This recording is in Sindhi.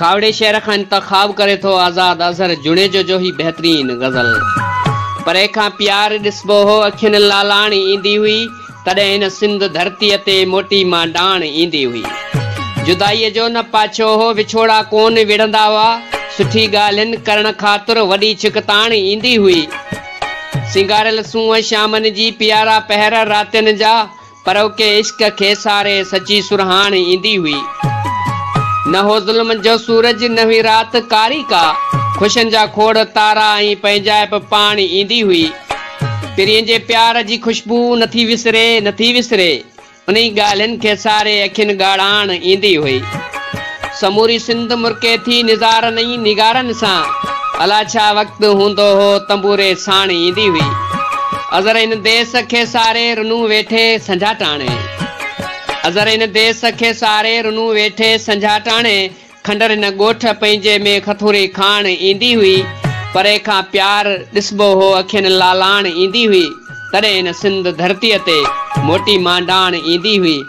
کاهوڙي شعر کان انتخاب ڪري ٿو آزاد اظهر جوڻيجو جو هي بهترين غزل. پري کان پيار ڏسبو هو اکين لالاڻ ايندي هئي تڏهن هن سنڌ ڌرتيء تي موٽي مان ڊاڻ ايندي هئي جدائيء جو نه پاڇو هو وڇوڙا ڪون وڙهندا هئا سٺي ڳالهين ڪرڻ خاطر وڏي ڇڪتاڻ ايندي هئي سينگاريل سونهن شامن جي پيارا پهر راتين جا پروڪي عشق کي ساري سچي سرهاڻ ايندي هئي. نه هو ظلم جو سورج نه هئي رات ڪاري ڪا، خوشين جا کوڙ تارا ۽ پنهنجائپ پاڻ ايندي هئي. پرين جي پيار جي خوشبو نٿي وسري نٿي وسري، انهي ڳالهين کي ساري اکين ڳاڙهاڻ ايندي هئي. سموري سنڌ مرڪي ٿي نظارن ۽ نگارن سان الا ڇا وقت هوندو هو تنبوري ساڻ ايندي هئي اظهر هن ديس کي ساري رنون ويٺي سنجهاٽاڻي اظهر هن ديس کي ساري رنون ويٺي سنجهاٽاڻي کنڊر هن ڳوٺ پنهنجي ۾ کٿوري کاڻ ايندي هئي پري کان پيار ڏسبو هو اکين لالاڻ ايندي هئي تڏهن هن سنڌ ڌرتي تي موٽي مانڊاڻ ايندي هئي.